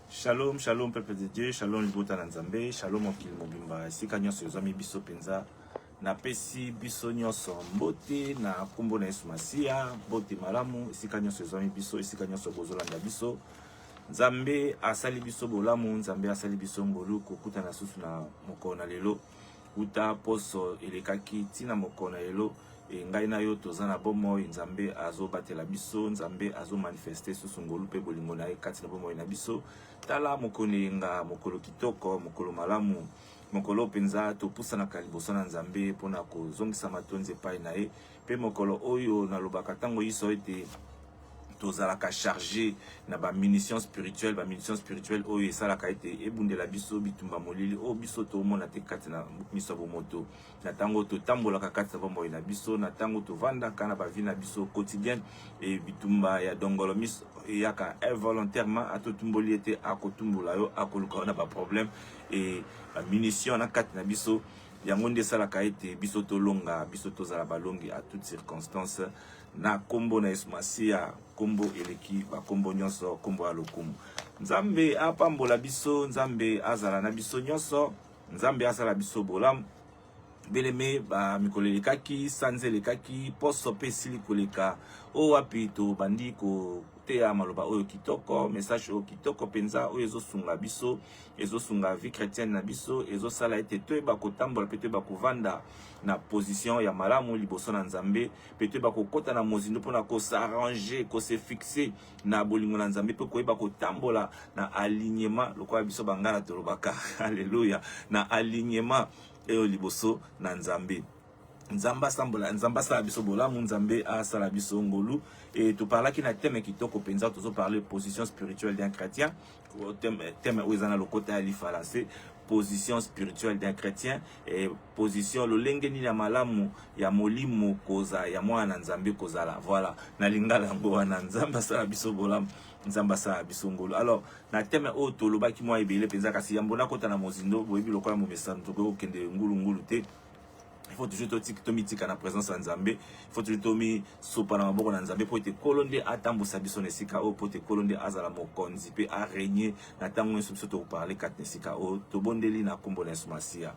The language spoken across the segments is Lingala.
Shalom, shalom peuple de Dieu, shalom libota na Nzambe, shalom mokili mobimba, esika nyonso ezwami biso mpenza. Napesi biso nyonso mbote na nkombo na Yesu Masiya, mbote malamu esika nyonso ezwami biso, esika nyonso bozolanda biso. Nzambe asali biso bolamu, Nzambe asali biso ngolu kokutana susu na mokolo na lelo. uta poso elekaki ntina moko na elo e ngai na yo toza na bomoi nzambe azobatela biso nzambe azomanifeste susu ngolu mpe bolingo na ye kati na bomoi na biso tala mokolo eyenga mokolo kitoko mokolo malamu mokolo mpenza topusanaka liboso na nzambe mpo na kozongisa matondi epai na ye Mpe mokolo oyo nalobaka ntango iso ete tozalaka charge na ba munitions spirituelles ba munitions spirituelles oyo esalaka ete ebundela biso bitumba molili oyo biso tomona te kati na miso ya bomoto na ntango totambolaka kati na bomoi na biso na ntango tovandaka na bavi na biso quotidienne e bitumba ya dongolo miso eyaka involontairement atotumboli ete akotumbola yo akoluka yo na baproblème e bamunition na kati na biso yango nde esalaka ete biso tolonga biso tozala balongi à toute circonstance na kombo na yesu masiya kombo eleki bakombo nyonso kombo ya lokumu nzambe apambola biso nzambe azala na biso nyonso nzambe asala biso bolamu beleme bamikolo elekaki sanza elekaki poso mpe esili koleka oyo wapi tobandi koteya maloba oyo kitoko message oyo kitoko mpenza oyo ezosunga biso ezosunga vie chrétienne na biso ezosala ete toyeba kotambola mpe toyeba kovanda na position ya malamu liboso na nzambe mpe toyeba kokɔta na mozindo mpo na kosarrange kose fixe na bolingo na nzambe mpe koyeba kotambola na alignement lokola biso bangala tolobaka alleluya na alignement eyo liboso na nzambe nzambe asambola nzambe asala biso bolamu nzambe asala biso ngolu e toparlaki na teme kitoko mpenza tozoparle position spirituelle d'un chrétien teme oyo eza na lokota ya lifalanse position spirituelle d'un chrétien et position lolenge nini ya malamu ya molimo koza ya mwana na nzambe kozala voilà na lingala yango wana nzambe asala biso bolamu nzambe asala biso ngolu alors na teme oyo tolobaki mwa ebele mpenza kasi yambo nakota na mozindo boyebi lokola momesano tokoki kokende ngulungulu te il faut toujours tomitika na présence ya nzambe il faut toujours tomisopa na maboko na nzambe mpo ete nkolo nde atambusa biso na esika oyo mpo ete nkolo nde azala mokonzi mpe aregne na ntango nyonso biso tokoparle kati na esika oyo tobondeli na nkombo na yesu masiya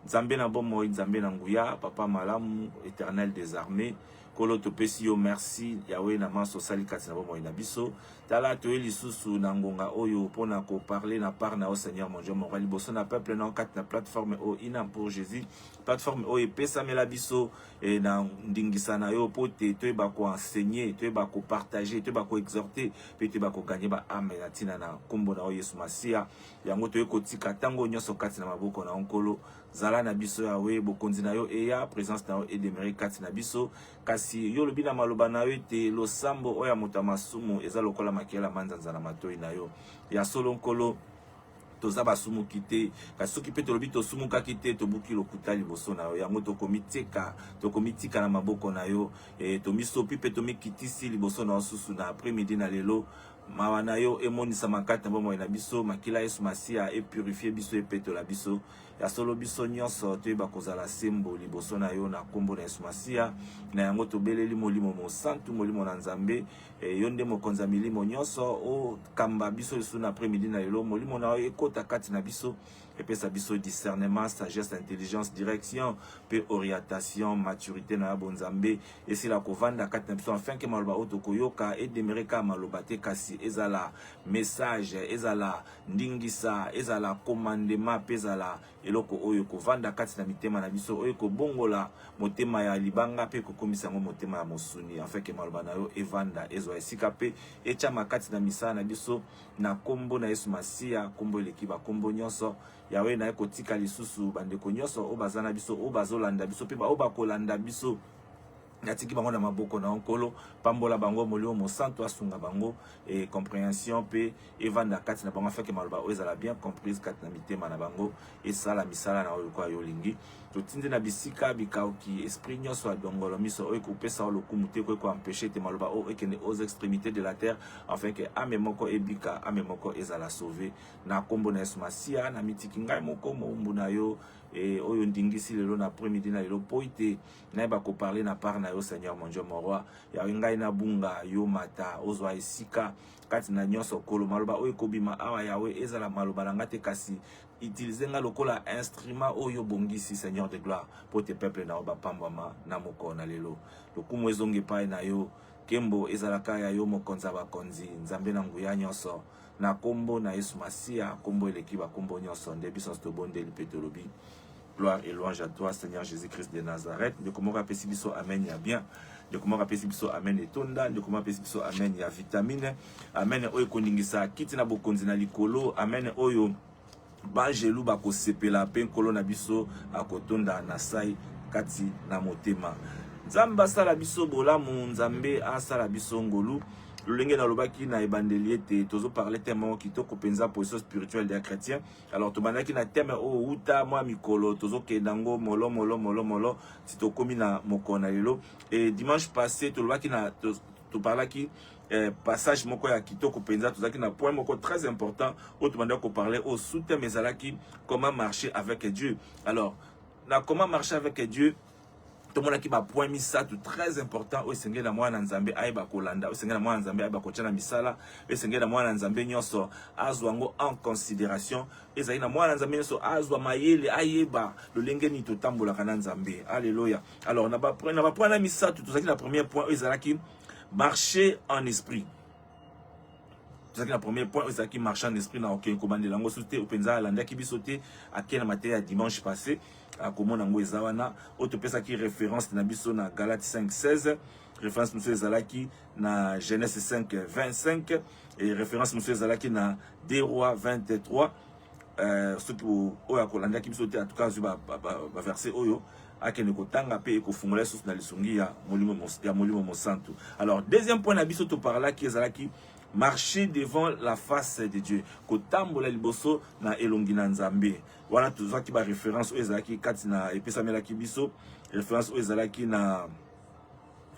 nzambe na bomoi nzambe na nguya papa malamu éternel des armées Nkolo, topesi yo merci Yahweh na manso osali kati na bomoi na biso. Tala, toye lisusu na ngonga oyo mpo na koparle na part na yo Seigneur mon Dieu mon roi liboso na peuple na yo kati na plateforme oyo ina pour Jésus plateforme oyo epesamela biso eh, na ndingisa na yo mpo te toyeba koenseigne toyeba kopartage toyeba koexhorte mpe toyeba koganye baame na ntina na nkombo na yo Yesu Masiya yango toye kotika ntango nyonso kati na maboko na yo Nkolo zala na biso yawe bokonzi na yo eya presence na yo edemere kati na biso kasi yo olobi na maloba na yo ete losambo oyo ya moto ya masumu eza lokola makela manzanza na matoi na yo ya solo nkolo toza basumuki te kasi soki mpe tolobi tosumukaki te tobuki lokuta liboso na yo yango tokomitika tokomitika na maboko na yo e, tomisopi mpe tomikitisi liboso na yo susu na après midi na lelo mawa na yo emonisa makati na bomoi na biso makila yesu masiya epurifie biso epetola biso ya solo biso nyonso toyeba kozala sembo liboso na yo na nkombo na yesu masiya na yango tobeleli molimo mosantu molimo na nzambe e, yo nde mokonzi ya milimo nyonso okamba biso lisusu na après midi na lelo molimo na yo ekota kati na biso epesa biso discernement sagesse intelligence direction mpe orientation maturité na ya bonzambe esila kovanda kati na biso afin ke maloba oyo tokoyoka edemere kaka maloba te kasi ezala message ezala ndingisa ezala komandema mpe ezala eloko oyo ekovanda kati na mitema na biso oyo ekobongola motema ya libanga mpe ekokomisa yango motema ya mosuni afeke maloba na yo evanda ezwa esika mpe etyama kati na misala na biso na nkombo na yesu masiya nkombo eleki bankombo nyonso yawe naye kotika lisusu bandeko nyonso oyo baza na biso oyo bazolanda biso mpe baoyo bakolanda biso natiki bango na maboko na yo nkolo pambola bango molimo mosantu asunga bango e comprehension mpe evanda kati na bango afeke maloba oyo ezala bien comprise kati na mitema na bango esala misala na oyo lokola yo olingi totindi na bisika bikauki esprit nyonso ya dongolo miso oyo ekopesa yo lokumu te ekoki koempeshe te maloba oyo ekende aux extrémités de la terre afin ke ame moko ebika ame moko ezala sauve na nkombo na yesu masiya na mitiki ngai moko moumbu na yo e oyo ndingisi lelo na après midi na lelo mpo ete nayeba ko parler na part na yo seigneur mon dieu mon roi yawe ngai nabunga yo mata ozwa esika kati na nyonso kolo maloba oyo ekobima awa yawe ezala maloba na ngai te kasi utilize ngai lokola instrument oyo obongisi seigneur de gloire mpo te peuple na yo bapambwama na mokolo na lelo lokumu ezonga epai na yo nkembo ezalaka ya yo mokonzi ya bakonzi nzambe na nguya nyonso na kombo na Yesu Masiya, kombo eleki ba kombo nyonso, nde biso tobondeli mpe tolobi gloire et louange à toi Seigneur Jésus-Christ de Nazareth. Ndeko moko apesi biso amen ya bien. Ndeko moko apesi biso amen etonda, ndeko moko apesi biso amen ya vitamine. Amen oyo ekoningisa kiti na bokonzi na likolo. Amen oyo Baanjelu bakosepela mpe Nkolo na biso akotonda na sai kati na motema. Nzambe asala biso bolamu, Nzambe asala biso ngolu. lolenge nalobaki na ebandeli ete tozoparle teme moko kitoko mpenza position spirituelle ya chrétien alors tobandaki na teme oyo oh, uta mwa mikolo tozokenda yango molo molo molo molo ti tokómi na mokolo na lelo e dimanche passé tolobaki na toparlaki eh, passage moko ya kitoko mpenza tozalaki na point moko très important oyo tobandaki koparle oyo sous-thème ezalaki comment marcher avec dieu alors na comment marcher avec dieu tomonaki bapoint misato très important oyo esengeli na mwana na nzambe ayeba kolanda oyo esengeli na mwana na nzambe ayeba kotya na misala oyo esengeli na mwana na nzambe nyonso azwa yango en considération ezali na mwana na nzambe nyonso azwa mayele ayeba lolenge nini totambolaka na nzambe alleluya alors na ba na ba point na misato tozalaki na premier point oyo ezalaki marché en esprit tozalaki na premier point oyo ezalaki marché en esprit na okei kobandela yango so te mpenza alandaki biso te akei na mateya ya dimanche passé akomona yango eza wana oyo topesaki référence na biso na galate 5 16 référence mosusu ezalaki na genèse 5 25 et référence mosusu ezalaki na 2 roi 23 Euh, soki oyo akolandaki biso te atuka azwi baverse ba, ba oyo akende kotanga mpe ekofungola ye susu na lisungi ya molimo, ya molimo mosantu alors deuxième point na biso toparlaki ezalaki marcher devant la face de dieu kotambola liboso na elongi na nzambe wana tozwaki baréférence oyo ezalaki kati na epesamelaki biso référence oyo ezalaki na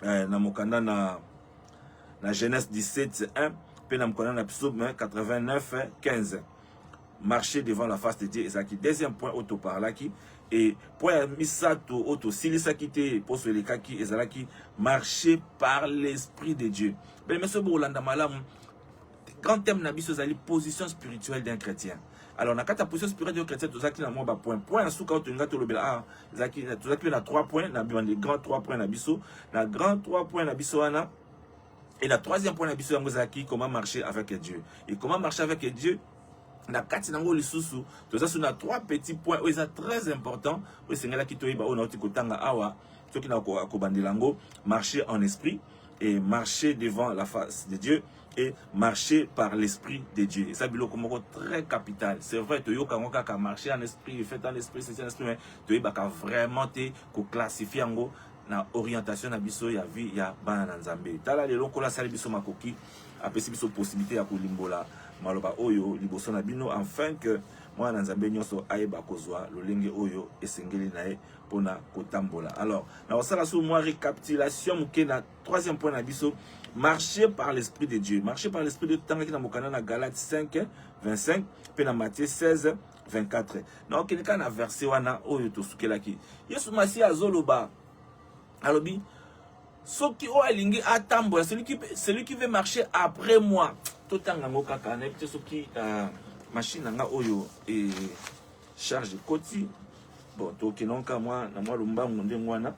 eh, na mokanda na na genèse 17 1 mpe na mokanda na psaume 89 15 marcher devant la face de Dieu ezalaki deuxième point oyo toparlaki et point ya misato oyo tosilisaki te mposo elekaki ezalaki marcher par l'esprit de Dieu bene meso bokolanda malamu grand thème na biso ezali position spirituelle d'un chrétien alors na kati ya position spirituelle d'un chrétien tozalaki na mwa bapoint point ya suka oyo tolinga tolobela ah, tozalaki mpe na trois point na bibande grand trois point na biso na grand trois point na biso wana Et la troisième point na biso yango ezalaki comment marcher avec Dieu. Et comment marcher avec Dieu na kati na yango lisusu toza so na trois petits points oyo eza très important oyo esengelaki toyeba oyo nauti kotanga awa soki na kobandela yango marcher en esprit et marcher devant la face de Dieu et marcher par l'esprit de Dieu. Et ça, biloko moko très capital. C'est vrai, tu yoka ngoka ka marcher en esprit, fait en esprit, c'est en esprit, mais tu yebaka vraiment te ko classifier ngo na orientation na biso ya vie ya bana na Nzambe. Tala lelo Nkolo asali biso makoki, apesi biso possibilité ya kolimbola maloba oyo liboso na bino afin que mwana na Nzambe nyonso ayeba kozwa lolenge oyo esengeli na ye mpona kotambola. Alors, na kosala sous mwa récapitulation moke na troisième point na biso, marcher par l'esprit de Dieu. Marcher par l'esprit de Dieu totangaki na mokanda na Galates 5 25 mpe na Matthieu 16 24 na okende kaka na verse wana oyo tosukelaki yesu masiya azoloba alobi soki oyo alingi atambola celui qui, celui qui veut marcher après moi totanga yango kaka nayebi te soki uh, machine na nga oyo e charge ekoti bon tokendanga kaka mwa na mwa lombango ndenge wana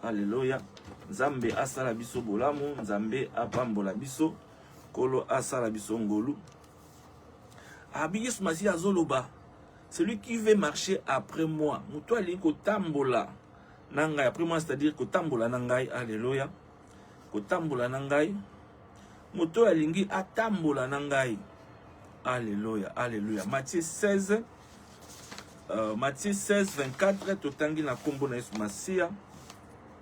aleluya nzambe asala biso bolamu nzambe apambola biso nkolo asala biso ngolu abi yesu masiya azoloba celui qui veut marcher après moi moto alingi kotambola na ngai après moi c'est-à-dire kotambola na ngai alleluya kotambola na ngai moto oyo alingi atambola na ngai alleluya alleluya matthieu 16 uh, matthieu 16 24 totangi na nkombo na yesu masiya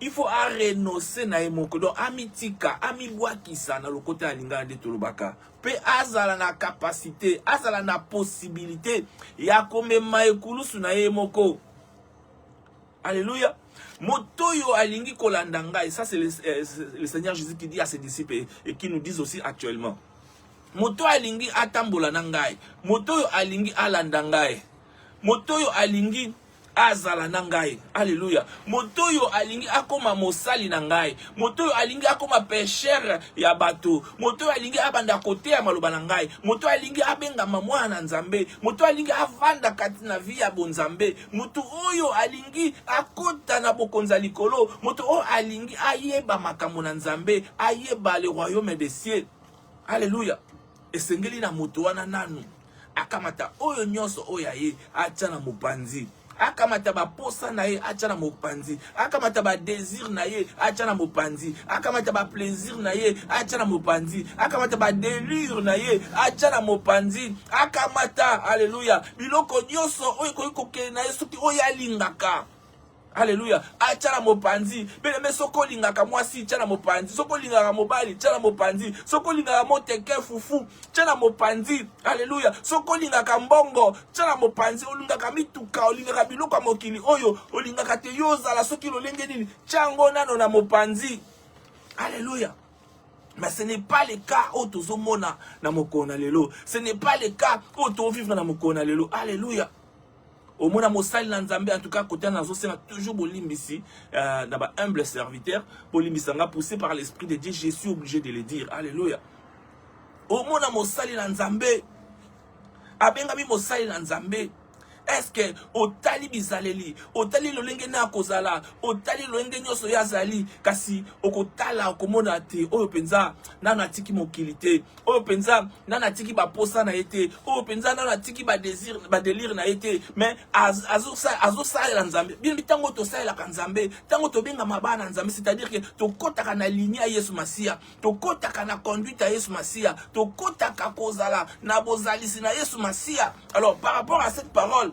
il faut a renoncer na ye moko donc amitika amibwakisa na lokota ya lingala nde tolobaka mpe azala na kapasite azala na posibilite ya komema ekulusu na ye moko alleluya moto oyo alingi kolanda ngai ça c'est le, euh, le seigneur jésus qui dit à ses disciples et, et qui nous disent aussi actuellement moto alingi atambola na ngai moto oyo alingi alanda ngai moto oyo alingi azala na ngai aleluya moto oyo alingi akoma mosali na ngai moto oyo alingi akoma peshere ya bato moto oyo alingi abanda koteya maloba na ngai moto oyo alingi abengama mwana na nzambe moto oyo alingi avanda kati na vi ya bonzambe moto oyo alingi akota na bokonzi ya likolo moto oyo alingi ayeba makambo na nzambe ayeba le royaume de cieux aleluya Esengeli na moto wana nanu akamata oyo nyonso oyo ya ye atya na mopanzi akamata baposa na ye atya na mopanzi akamata badesir na ye atya na mopanzi akamata baplaisir na ye atya na mopanzi akamata badelure na ye atya na mopanzi akamata aleluya biloko nyonso oyo ekoki kokende na ye soki oyo alingaka Aleluya. Atya na mopanzi. Beleme soki olingaka mwasi, tya na mopanzi. Soki olingaka mobali, tya na mopanzi. Soki olingaka moteke fufu, tya na mopanzi. Aleluya. Soki olingaka mbongo, tya na mopanzi. Olingaka mituka, olingaka biloko ya mokili oyo, olingaka te yo ozala soki lolenge nini, tya yango nano na mopanzi. Aleluya. Mais ce n'est pas le cas oyo tozomona na mokolo na lelo. Ce n'est pas le cas oyo tozovivre na mokolo na lelo. Aleluya. omona mosali na nzambe en tout cas kote wana nazosenga toujours bolimbisi euh, na ba humble serviteur bolimbisa nga poussé par l'esprit de dieu je suis obligé de le dire alléluia omona mosali na nzambe abengami mosali na nzambe eske otali bizaleli otali lolenge na akozala otali lolenge nyonso ye azali kasi okotala okomona te oyo mpenza nano atiki mokili te oyo mpenza nani atiki baposa na ye te oyo mpenza nani atiki badelire na ye te mais azosalela nzambe bino ntango tosalelaka nzambe ntango tobengama bana na nzambe c'est-à-dire ke tokɔtaka na linie ya yesu masiya tokɔtaka na conduite ya yesu masiya tokɔtaka kozala na bozalisi na yesu masiya alors par rapport à cette parole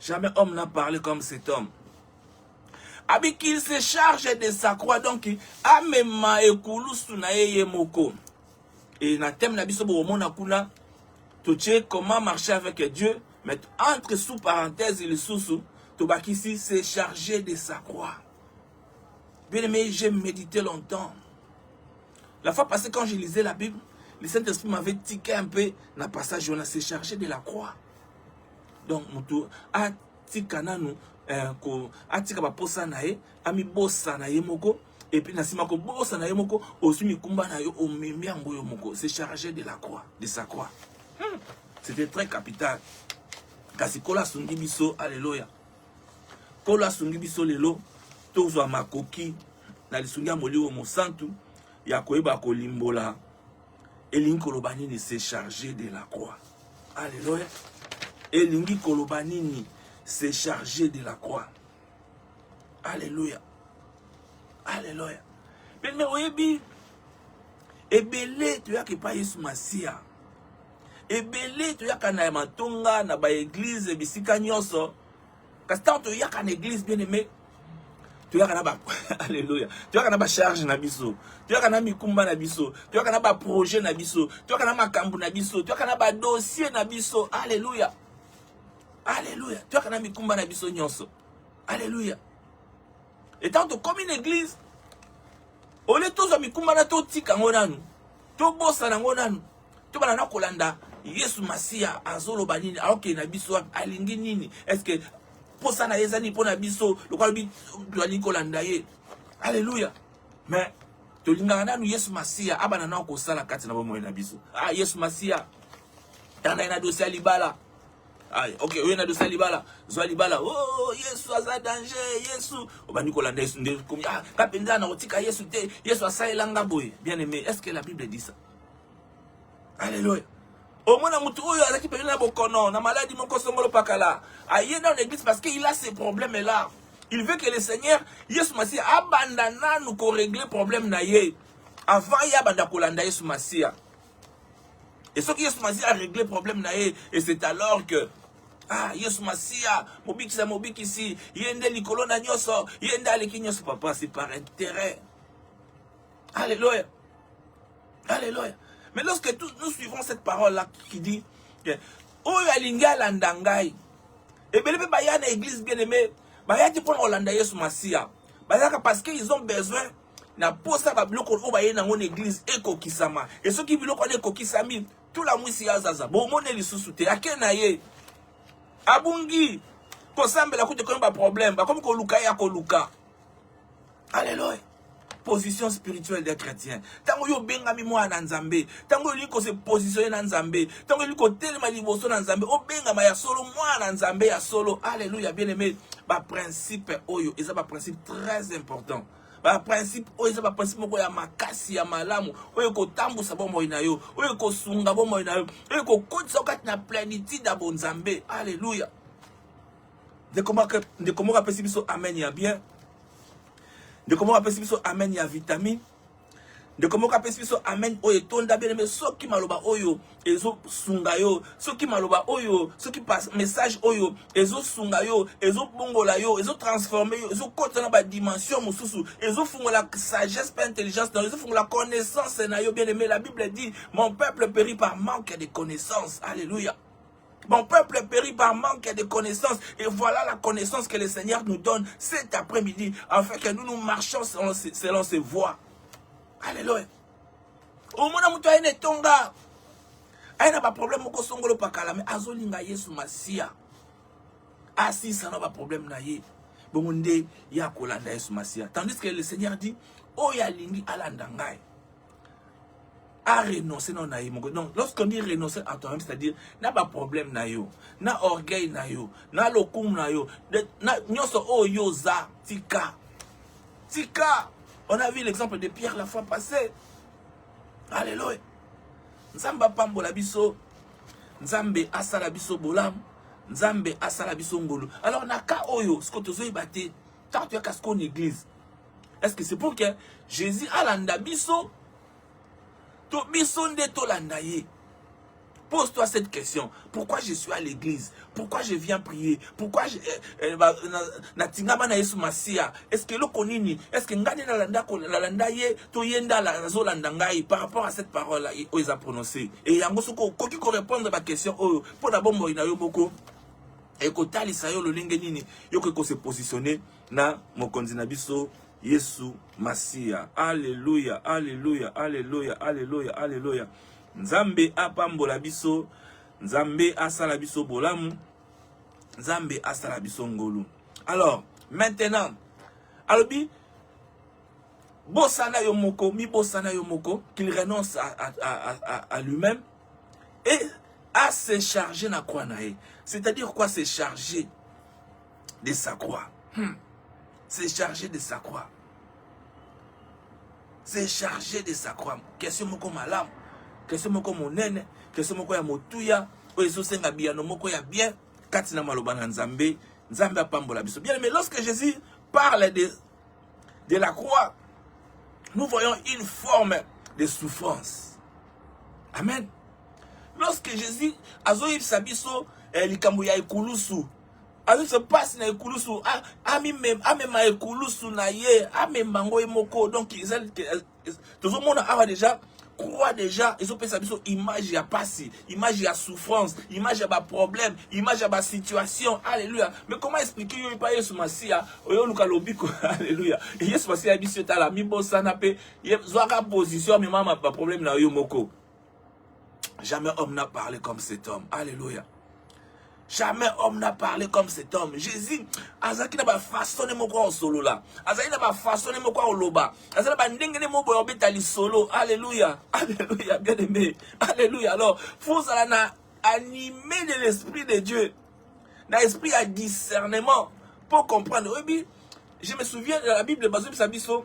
Jamais homme n'a parlé comme cet homme. Abi qu'il se charge de sa croix donc amema ekulusu na ye ye moko. Et na thème na biso bomona kuna totie comment marcher avec Dieu mais entre sous parenthèse lisusu tobakisi se charger de sa croix. Bien aimé, j'ai médité longtemps. La fois passée quand je lisais la Bible, le Saint-Esprit m'avait tiqué un peu dans le passage où on s'est chargé de la croix. donc moto atika nanu eh, ko, atika baposa na ye amibosana ye moko epuis na nsima kobosana ye moko ozwi mikumba na yo omemi yango yo moko se charge de la croix de sa croix hmm. c'était très capital kasi kolo asungi biso aleloya kolo asungi biso lelo tozwa makoki na lisungi ya molimo mosantu ya koyeba kolimbola elingi koloba nini se charger de la croix alleluya elingi koloba nini se charger de la croix alleluya alleluya meme oyebi ebele toyaka epai yesu masiya ebele toyaka na matonga na baeglize bisika nyonso Kasi ntango toyaka na eglise bien aime toyaka na ba alleluya toyaka na bacharge na biso toyaka na mikumba na biso toyaka na baprojet na biso toyaka na makambo na biso toyaka na badossier na biso alleluya alleluya toyaka na mikumba na biso nyonso alleluya etango tokomi na eglise ole tozwa mikumba na totika yango nanu tobosana yango nanu to bana na kolanda yesu masiya azoloba nini aokende na biso wapi alingi nini estce mposa na ye eza nini mpo na biso lokola lobi toalingi kolanda ye alleluya mais tolingaka nanu yesu masiya abana nao kosala kati na bomoi na biso ah, yesu masiya tanda ye na dosi ya libala Ay, ah, ok oye na dosi ya libala zwa libala o oh, yesu aza danger yesu obandi kolanda yesu nde komi ah, ka mpenza nakotika yesu te yesu asalela nga boye bien aimé est ce que la bible dit ça Alléluia. omona motu oyo azalaki pene na bokono na maladi moko songolo pakala aye dans l'église parce que il a ses problèmes là il veut que le seigneur yesu masiya abanda nanu koregle problème na ye avant ye abanda kolanda yesu masiya e soki yesu masiya aregle problème na ye et c'est alors que ah yesu masiya mobikisi ya mobikisi ye nde likolo na nyonso ye nde aleki nyonso papa c'est par intérêt Alléluia. Alléluia. Mais lorsque tous nous suivons cette parole-là qui dit que oyo alingi alanda ngai ebele mpe baya na église bien aimé bayaki mpo na kolanda yesu masiya bazalaka parce que ils ont besoin na posa babiloko oyo baye nango na église ekokisama e soki biloko wana ekokisami tula mwisi ya zaza bomone lisusu te ake na ye abungi kosambela kutu ekomi baproblème bakomi koluka ye ya koluka Alléluia. position spirituelle des chrétiens ntango yo obengami mwana na nzambe ntango olingi kose positionne na nzambe ntango olingi kotelema liboso na nzambe obengama ya solo mwana na nzambe ya solo alleluya bien aimé baprincipe oyo eza baprincipe très important baprincipe oyo eza baprincipe moko ya makasi ya malamu oyo ekotambwisa bomoi na yo oyo ekosunga bomoi na yo oyo ekokotisa yo kati na plenitude ya bonzambe alleluya ndeko moko ndeko moko apesi biso amen ya bien ndeko moko apesi biso amen ya vitamine ndeko moko apesi biso amen oyo etonda beleme soki maloba oyo ezosunga yo soki maloba oyo soki message oyo ezosunga yo ezobongola yo ezotransforme yo ezokota na badimension mosusu ezofungola sagesse mpe intelligence na yo ezofungola connaissance na yo bien aimé la bible dit mon peuple périt par manque de connaissance alléluia Mon peuple périt par manque de connaissances. Et voilà la connaissance que le Seigneur nous donne cet après-midi, afin que nous nous marchions selon, selon ses voies. Alléluia. Au moins, nous avons une tonga. aye na baproblème moko songolo pakala me azolinga yesu masiya asisa na baproblème na ye bongo nde ye akolanda yesu masiya tandis que le seigneur dit oyo alingi alanda ngai a renoncer non na ye moko donc lorsqu'on dit renoncer à toi-même c'est-à-dire na ba problème na yo na orgueil na yo na lokumu na yo na nyonso oyo yo oza tika tika on a vu l'exemple de Pierre la fois passée alléluia nzambe apambola biso nzambe asala biso bolamu nzambe asala biso ngolu alors na cas oyo siko tozoyeba te ntango toyaka siko na église Est-ce que c'est pour que Jésus alanda biso to biso nde tolanda ye? Pose-toi cette question. Pourquoi je suis à l'église Pourquoi je viens prier Pourquoi je eh, eh, na tingama na Yesu Masia Est-ce que loko nini Est-ce que ngani na landa ko la landa ye to yenda la zo landa ngai par rapport à cette parole là ils a prononcé et yango soko koki ko répondre ba question oyo oh, pour na bombo ina yo moko et ko talisa yo lolenge nini yo ko se positionner na mokonzi na biso Yesu Masiya. Aleluya, aleluya, aleluya, aleluya, aleluya. Nzambe apambola biso, Nzambe asala biso bolamu, Nzambe asala biso ngolu. Alors, maintenant, alobi bosana yo moko, mi bosana yo moko, qu'il renonce à, à, à, à, à lui-même et à se charger na croix na ye. C'est-à-dire quoi se charger de sa croix. Hmm. C'est chargé de sa croix. C'est chargé de sa croix. Question moko malamu. Question moko monene. Question moko ya motuya. Oyo ezosenga biyano moko ya bien. Kati na maloba na Nzambe. Nzambe apambola biso. Bien, mais lorsque Jésus parle de, de la croix, nous voyons une forme de souffrance. Amen. Lorsque Jésus azoyebisa biso eh, likambo ya ekulusu Ayuso pasi na ekulusu amema ekulusu na ye amema yango ye moko donc eza tozomona awa deja croix deja ezopesa biso image ya pasi image ya souffrance image ya baproblème image ya basituation alleluya mais comment expliquer yo epa yesu masiya oyo oluka lobiko alleluya yesu masiya ya biso etala mibosana mpe zwaka position amema baproblème na yo moko Jamais homme n'a parlé comme cet homme. Alléluia. Jamais homme n'a parlé comme cet homme. Jésus, azaki na ba façon moko en solo là. Azaki na ba façon moko en loba. Azaki na ba ndenge ne moko obeta li solo. Alléluia. Alléluia, bien aimé. Alléluia. Alors, faut ça na animé de l'esprit de Dieu. Na esprit à discernement pour comprendre. Oui, je me souviens de la Bible, Bazo Bisabiso.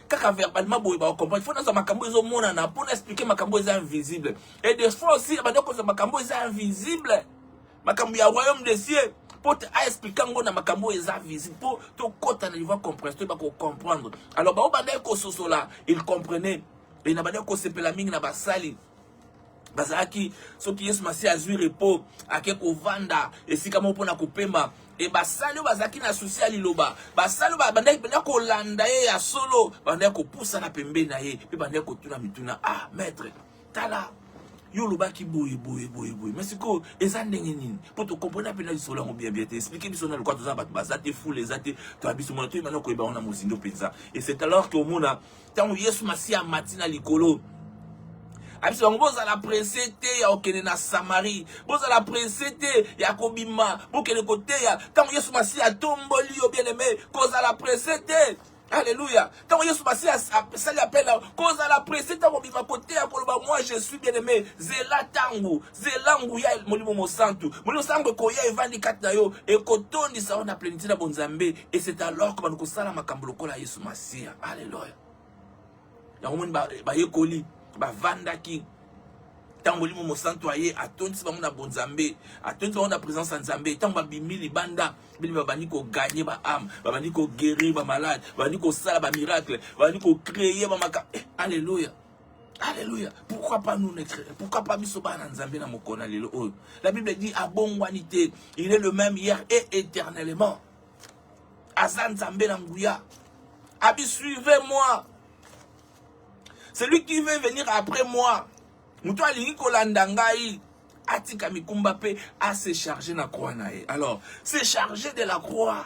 kaka verbalement boye ba comprendre faut naza makambo ezo monana pour na expliquer makambo eza invisible et des fois aussi ba ndeko za makambo eza invisible makambo ya royaume des cieux pour te a expliquer ngo na makambo eza visible pour to kota na niveau compréhension ba ko comprendre alors ba obanda ko sosola il comprenait et na ba ndeko sepela mingi na basali bazalaki soki yesu masiya azwi repo ake kovanda esika moko mpo na kopema e basali oyo bazalaki na susi ya liloba basali oyo babandaki mpenza kolanda ye ya solo babandaki kopusana pembeni na ye mpe bandaki kotuna mituna ah maître tala yo olobaki boye boye boye boye mais sikoyo eza ndenge nini mpo tokomprena mpe na lisolo yango bien bien te explike biso na lokola toza bato baza te fule eza te toya biso mona toyeba na koyeba yango na mozindo mpenza et c'est alors que omona ntango yesu masiya amati na likolo abisi bango bozala presse te ya kokende na samarie bozala presse te ya kobima bokende koteya ntango yesu masiya atomboli yo bien aime kozala presse te Alléluia. Tant Yesu Massi a sali appel, kozala pressé tant obima kote ya koloba moi je suis bien aimé. Zela tangu. zela nguya ya molimo mosantu molimo sango ekoya evandi kati na yo ekotondisa yo na plenitude na bonzambe et c'est alors que bano kosala makambo lokola yesu masiya alleluya yango moni bayekoli bavandaki ntango molimo mosantu aye atondisi bango na bonzambe atondisi bango na présence ya nzambe ntango babimi libanda bini babandi koganye baame babandi koguerir bamalade babandi kosala bamiracle babandi kocreye bamaka eh, alleluya Alléluia. Pourquoi pas nous Pourquoi pas biso bana Nzambe na mokona lelo oyo. La Bible dit abongwani te, il est le même hier et éternellement. Aza Nzambe na nguya. Abi suivez-moi. Celui qui veut venir après moi. Mutu alingi kolanda ngai atika mikumba pe a se charger na croix na ye. Alors, se charger de la croix.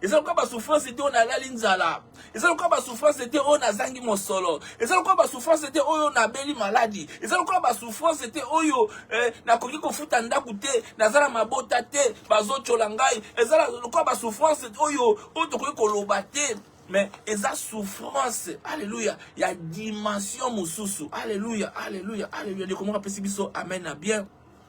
eza lokola basouffrance te oyo nalali nzala eza lokola basouffrance te oyo nazangi mosolo eza lokola basouffrance te oyo nabeli maladi eza lokola basouffrance te oyo eh, nakoki kofuta ndako te naza na mabota te bazotyola ngai eza lokola basouffrance oyo oyo tokoki koloba te mais eza souffrance alleluya ya dimension mosusu alleluya alleluya alleluya ndeko moko apesi biso amen na bien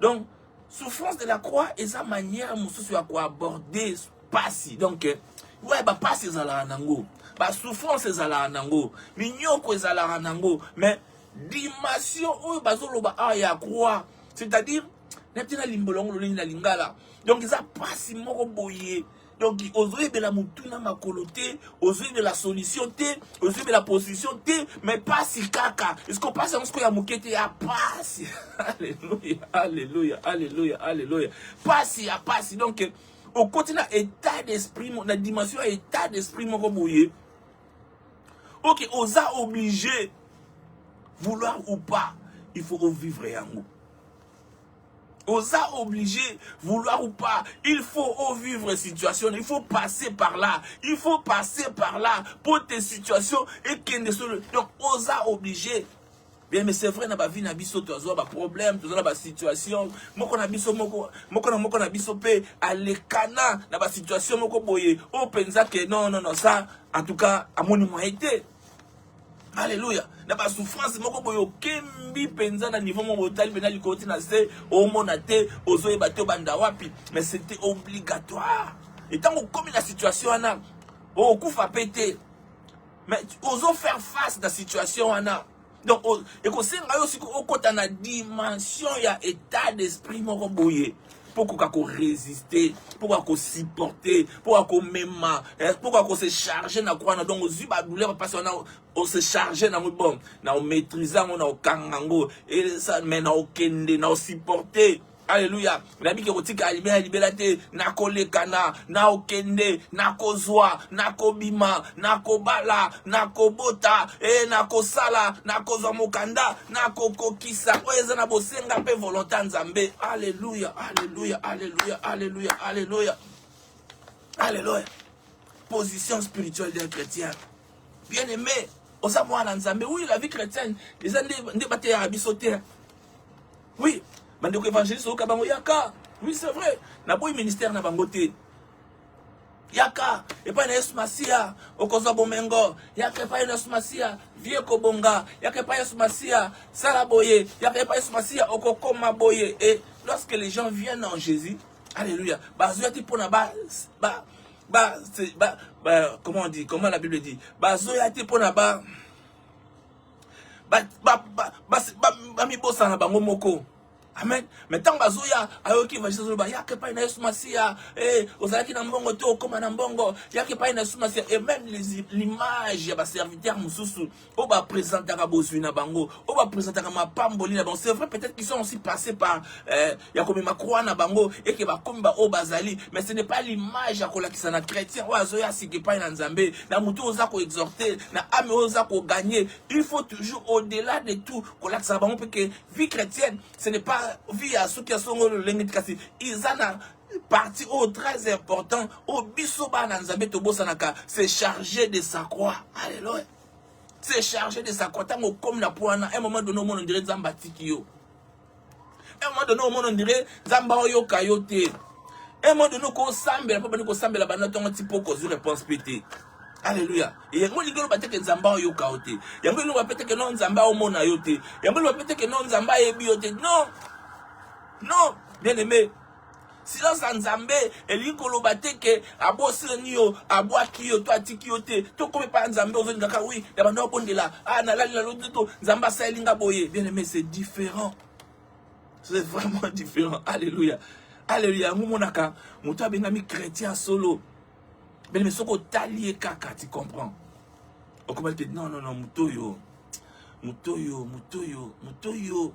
donc souffrance de la croix eza manière mosusu ya koaborde pasi donc eh, ouais bapasi ezalaka nango basouffrance ezalaka nango minyoko ezalaka nango mais dimension oyo bazoloba awa ya croix c'est-à-dire nayebi te na limbola yango lolenge na lingala donc eza pasi moko boye donc ozoyebela motuna makolo te ozoyebela solution te ozoyebela position te me pasi kaka esko pasi yango sikoyo ya moke te ya pasi alleluya alleluya alleluya alleluya pasi ya pasi donc okoti na état d'esprit na dimension ya état d'esprit moko boye ok oza obligé vouloir ou pas il faut ovivre yango Oza obligé, vouloir ou pas, il faut oh, vivre situation, il faut passer par là, il faut passer par là pour tes situations et kende sur le... Donc, oza obligé. Bien, mais c'est vrai, na ba vie na biso, tu as ba problème, tu as ba situation, moko na biso, moko, moko na moko na biso pe, alekana, na ba situation, moko boye, oh, penza que non, non, non, ça, en tout cas, à mon été. Alléluia. Na ba souffrance moko boyo kembi penza na niveau moko otali pena likoti na se omona te ozo yeba te banda wapi mais c'était obligatoire. Et tant okomi na situation wana okufa pe te mais ozo faire face na situation wana donc ekosenga yo siko okota na dimension ya état d'esprit moko boye mpo okoka koresiste mpo okoka kosupporte mpo okoka komema eh, mpo okoka kose charge na kwana donc ozwi badouleur mpasi wana ose charge nango bon na omaitrise yango na okanga yango mais na okende na osupporte Aleluya. Nayebi ke kotika libela libela te, nakolekana, naokende, nakozwa, nakobima, nakobala, nakobota, e nakosala, nakozwa mokanda, nakokokisa oyo eza na bosenga mpe volonte ya Nzambe. Aleluya, aleluya, aleluya, aleluya, aleluya, aleluya. Position spirituelle d'un chrétien. Bien aimé, oza mwana Nzambe. Oui, la vie chrétienne, eza nde bateyaka biso te. Oui, bandeko evangeliste oyoka bango yaka. Oui, c'est vrai. Na boyi ministère na bango te. Yaka epai na Yesu Masiya okozwa bomengo. Yaka epai na Yesu Masiya vie kobonga. Yaka epai Yesu Masiya sala boye. Yaka epai Yesu Masiya okokoma boye. Et lorsque les gens viennent en Jésus, alléluia, bazoya ti pona ba ba ba, ba, ba comment on dit, comment la Bible dit, bazoya ti pona ba bamibosana bango moko amen me ntango bazoya ayoki evangeliste azoloba yaka epai na yesu masiya eh, ozalaki na mbongo te okoma na mbongo yaka epai na yesu masiya et même l'image ya baserviteur mosusu oyo bapresentaka bozwi na bango oyo bapresentaka mapamboli na bango c'est vrai peut-être qu'ils sont aussi passé par eh, ya komema croix na bango eke bakomi baoyo bazali mais ce n'est pas l'image ya kolakisa na chrétien oyo azoya sika epai na nzambe na motu oyo oza koexorte na ame oyo oza kogagne il faut toujours au delà de tout kolakisa na bango mpe ke vie chrétienne ce n'est pas vie ya soki ya songo lolenge ti kasi eza na partie oyo très important oyo biso bana nzambe tobosanaka se charger de sa croix alleluia se charger de sa croix ntango okomi na po wana un moment donné omona ondire nzambe atiki yo un moment donné omona ondire nzambe aoyoka yo te un moment donné okosambela mpo bandi kosambela banda ntongo ti mpo kozwi réponse mpe te alleluya yango elingi oloba teke nzambe aoyoka yo te yango elingi oloba mpe teke no nzambe aomona yo te yango eloba mpe teke no nzambe ayebi yo te non non bien aimé silence ya nzambe elingi koloba te ke abosani yo abwaki yo to atiki yo te tokomi epai ya nzambe ozolinga kaka wi ya banda obondela a ah, nalali na lodi to nzambe asaleli nga boye bien aimé c'est différent c'est vraiment différent alléluia alléluia yango omonaka moto abengami chrétien solo bien aimé soki otali ye kaka tu comprends okomaki te non non non moto oyo moto oyo moto oyo moto oyo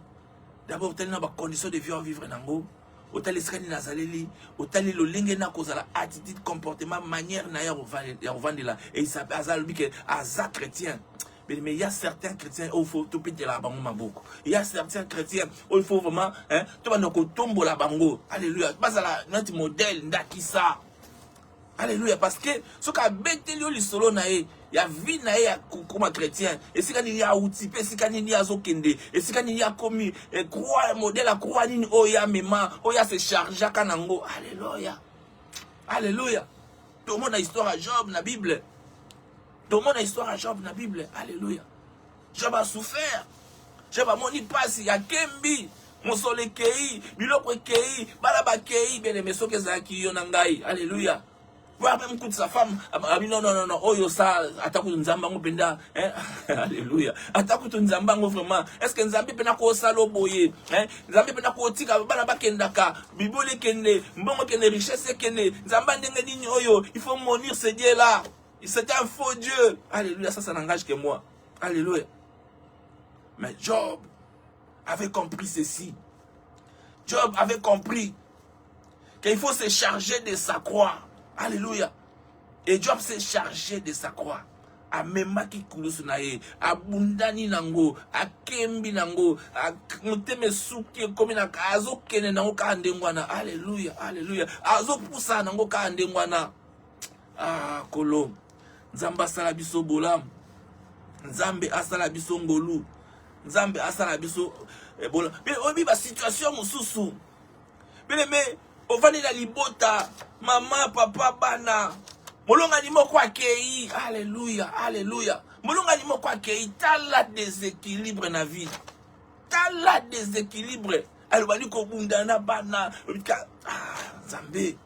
d'abord otali na bacondition de vie ovivre nango otali esika nini azaleli otali lolenge na kozala attitude comportement manière na ye ya kovandela esape aza alobi ke aza chrétien mais il y a certains chrétiens oyo faut topetela bango maboko il y a certains chrétiens oyo faut vraiment tobanda kotombola bango alleluya bazala neti modèle ndakisa Alléluia parce que soki abeteli yo lisolo na ye ya vie na ye ya kokoma chrétien esika nini auti mpe esika nini azokende esika nini akomi eh, croix modèle ya croix nini oyo amema oyo ase chargeaka na yango alleluia alleluia tomona histoire ya job na bible tomona histoire ya job na bible alleluia Je ba souffert. Je ba moni pasi ya kembi. Mosolo ekei, biloko ekei, bana bakei, bien aimé soki ezalaki yo na ngai. Alléluia. Voir même toute sa femme, abi non non non non, oyo sa atakutu nzambe yango mpenza, hein? Alléluia. Atakutu nzambe yango vraiment. Est-ce que nzambe mpe nakosala boye, hein? Nzambe mpe nakotika bana bakendaka, bibole kende, mbongo kende, richesse kende, nzambe ndenge nini oyo, il faut monir ce Dieu là. Il c'était un faux Dieu. Alléluia, ça, ça n'engage que moi. Alléluia. Mais Job avait compris ceci. Job avait compris qu'il faut se charger de sa croix. Alléluia. Et Job s'est chargé de sa croix. amemaki kulusu na ye abundani nango akembi nango motema esuki ekomi na azokende nango kaka ndenge wana aleluya aleluya azopusana nango kaka ndenge wana ah kolo nzambe asala biso bolamu nzambe asala biso ngolu nzambe asala biso eh, bola mpe oyebi basituation mosusu pele me ovandi na libota mama papa bana molongani moko akei aleluya aleluya molongani moko akei tala deséquilibre na vie tala deséquilibre alobani kobunda na bana ah, nzambe ah,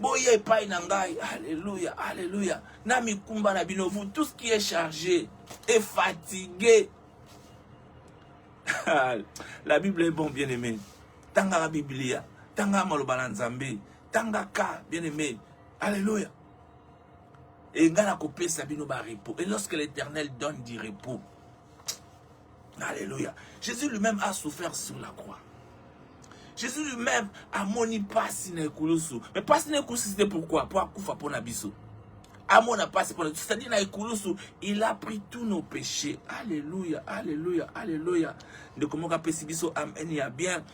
boya epai na ngai alleluya alleluya na mikumba na bino vous tout ce qui est chargé et fatigué la bible est bon bien aimé tangaka biblia tangaka maloba na nzambe tangaka bien aimé alleluya engai nakopesa bino barepo et lorsque l'éternel donne du repos Alléluia. Jésus lui-même a souffert sur la croix. Jésus lui-même amoni pasi na ekulusu. Mais pasi na ekulusu c'était pourquoi? Pour akufa pona biso. Amona pasi pona c'est-à-dire na ekulusu, il a pris tous nos péchés. Alléluia, alléluia, alléluia. Ndeko moka pesi biso amen ya bien.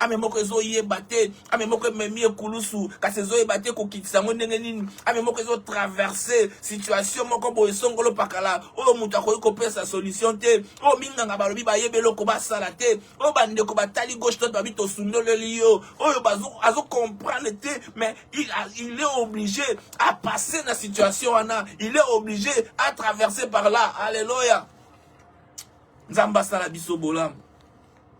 ame moko ezoyeba te ame moko ememi ekulusu kasi ezoyeba te kokitisa yango ndenge nini ame moko ezotraverse situation moko boye songolo pakala oyo moto akoki kopesa solution te oyo minganga balobi bayebi eloko basala te oyo bandeko batali gauche tote babi tosundoleli yo oyo azocomprendre te mais il, a, il est obligé à passer na situation wana il est obligé à traverser par là alleluya nzambe asala biso bolamu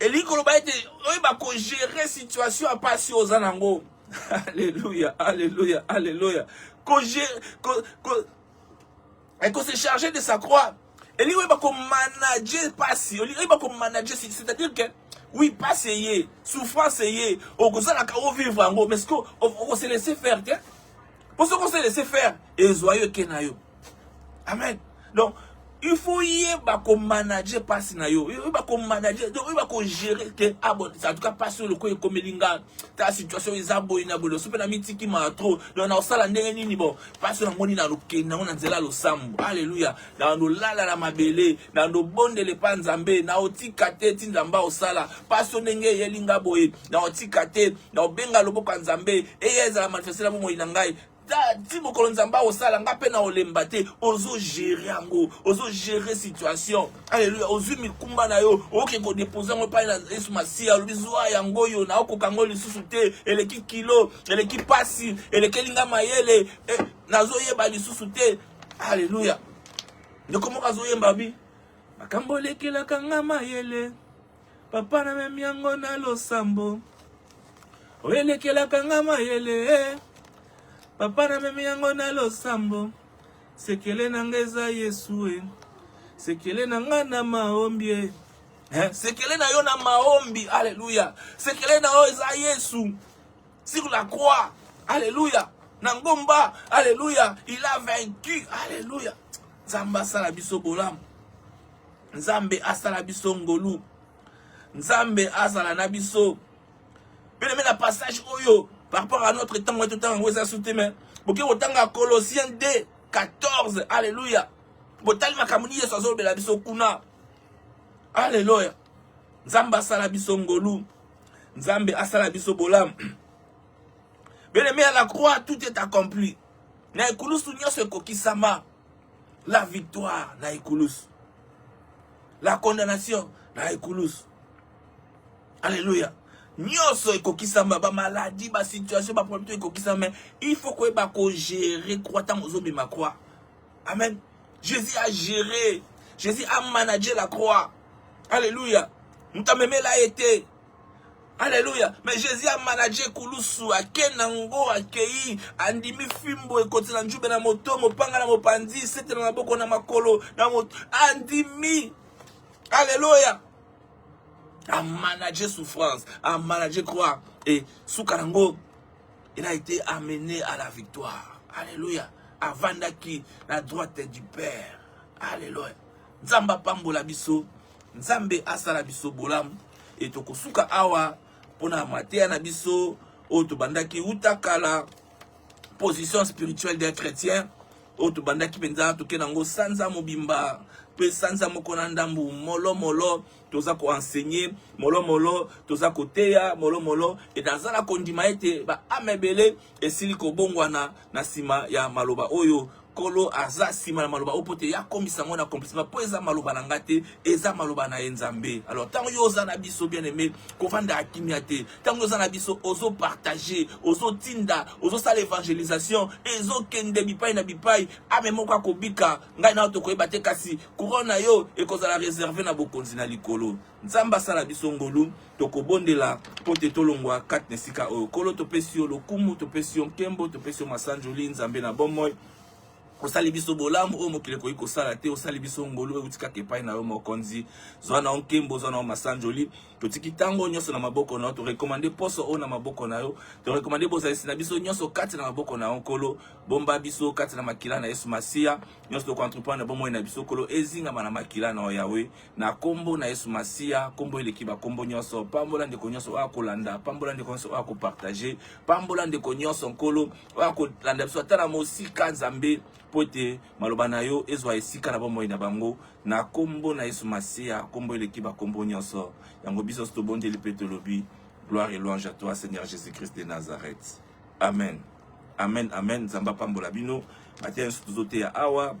elingi koloba ete oyeba kogere situation ya mpasi oyo oza nango alleluya alleluya alleluya ekose charge de sa croix elingi oyeba komanage mpasi olingi oyeba komanage c'est-à-dire que oui mpasi eye souffrance eye okozalaka ovivre yango mais siko okoselese faire te mpo soki oselese faire ezwa yo eke na yo Amen. Donc, il faut yeba ko manager passe na yo. Yeba ko manager, donc yeba ko gérer que ah bon, en tout cas passe le ko ekomeli nga. Ta situation eza boyi na bolo. Sope na mitiki ma trop. Donc na osala ndenge nini bon? Passe na ngoni na loke na ngona nzela lo sambo. Alléluia. Na ndo lala na mabele, na ndo bonde le pa nzambe, na otika te ti nzamba osala. Passe ndenge yelinga boye, na otika te, na obenga loboko nzambe. Eye ezala manifester na bomoyi na ngai. ti mokolo nzambe akosala nga mpe na olemba te ozo gere yango ozo gere situation aleluya ozwi mikumba na yo oyoki kodepose yango epai na yesu masiya alobi zwa yango oyo naokoka yango lisusu te eleki kilo eleki mpasi elekeli nga mayele eh, nazoyeba lisusu te aleluya ndeko moko azoyemba bi makambo olekelaka nga mayele Papa na memi yango na losambo oyelekelaka nga mayele eh. Papa na memi yango na losambo sekele na nga eza Yesu eh. Sekele na nga na maombi eh. Eh, sekele na yo na maombi aleluya sekele na yo eza yesu sur la croix aleluya na ngomba aleluya il a vaincu aleluya nzambe asala biso bolamu nzambe asala biso ngolu nzambe azala na biso pene na passage oyo par rapport à notre temps oyo totanga yango eza sute me boke kotanga colossien 2 14 alleluya botali makambo nini yesu azolobela biso kuna alleluya nzambe asala biso ngolu nzambe asala biso bolamu beleme ya la croix tout est accompli na ekulusu nyonso ekokisama La victoire na ekulusu. La condamnation na ekulusu. Alléluia. nyonso ekokisama bamaladi basituation baproblème to ekokisama mais il faut koyeba kogere croix ntango ozobima croix amen jésus a géré jésus a manage la croix alleluya moto amemela ye te Alléluia. Mais Jésus a managé Kulusu, a Kenango, a Kei, a Ndimi Fimbo, et côté la Njoube, na moto, mopanga na mopandi, c'était na maboko na makolo, na moto, a Ndimi. Alléluia. A managé souffrance, a managé croix, et Soukarango, il a été amené à la victoire. Alléluia. Avandaki, la droite du Père. Alléluia. Zamba Pambola Bisso. Nzambe asala biso bolamu e tokosuka awa mpona mateya na biso oyo tobandaki uta kala position spirituelle d'un chrétien oyo tobandaki mpenza toke nango sanza mobimba mpe sanza moko na ndambu molomolo toza koenseigne molomolo toza koteya molomolo e naza na kondima ete baame ebele esili kobongwana na nsima ya maloba oyo kolo aza nsima na maloba oyo mpo te yakomisa yango na accomplissement mpo eza maloba na nga te eza maloba na ye nzambe alors ntango yo oza na biso bien aimé kovanda ya kimia te ntango yo oza na biso ozopartage ozotinda ozosala evangelisation ezokende bipai na bipai ame moko akobika ngai nayo tokoyeba te kasi couronne na yo ekozala reserve na bokonzi na likolo Nzambe asala biso ngolu, tokobondela mpo te tolongwa kati na esika oyo. Nkolo, topesi yo lokumu, topesi yo nkembo, topesi yo masanjoli, Nzambe na bomoi. osali biso bolamu oyo mokili ekoki kosala te osali biso ngolu euti kaka epai na yo mokonzi zwa na yo nkembo zwa na yo masanjoli totiki ntango nyonso na maboko na yo torekomande poso oyo na maboko na yo torekomande bozalisi na biso nyonso kati na maboko na yo nkolo bomba biso kati na makila na yesu masiya nyonso tokoentreprendre bomoi na biso nkolo ezingama na makila na yo yawe na kombo na yesu masiya kombo eleki bakombo nyonso pambola ndeko nyonso oyo akolanda pambola ndeko nyonso oyo akopartage pambola ndeko nyonso nkolo oyo akolanda biso ata na mosika nzambe mpo ete maloba na yo ezwa esika na bomoi na bango na kombo na yesu masiya kombo eleki bakombo nyonso yango biso nyonso tobondeli mpe tolobi gloire et louange à toi seigneur jésus christ de nazareth amen amen amen nzambe apambola bino mateya nyonso tozoteya awa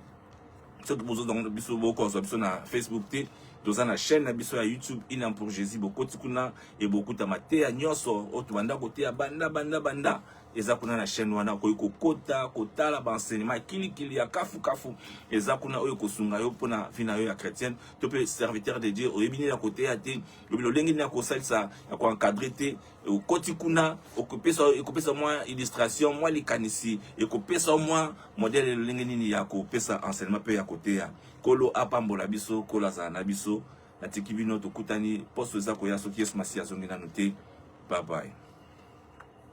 soki bozozwa biso bokozwa biso na facebook te toza na chaîne na biso ya youtube inam pour jésus bokoti kuna e bokuta mateya nyonso oyo tobanda koteya banda banda banda eza kuna na chaîne wana okoki kokota kotala baenseignement kilikili ya kafukafu eza kuna oyo ekosunga yo mpona vie na yo ya chrétienne to mpe serviteur de dieu oyebi nini ya koteya te oyebi lolenge nini ya kosalisa ya koencadre te okoti kuna okopesa ekopesa mwa illustration mwa likanisi ekopesa mwa modele lolenge nini ya kopesa enseignement mpe ya koteya kolo apambola biso kolo azala na biso natiki bino tokutani poso eza koya soki yesu masiya azongi nanu te babai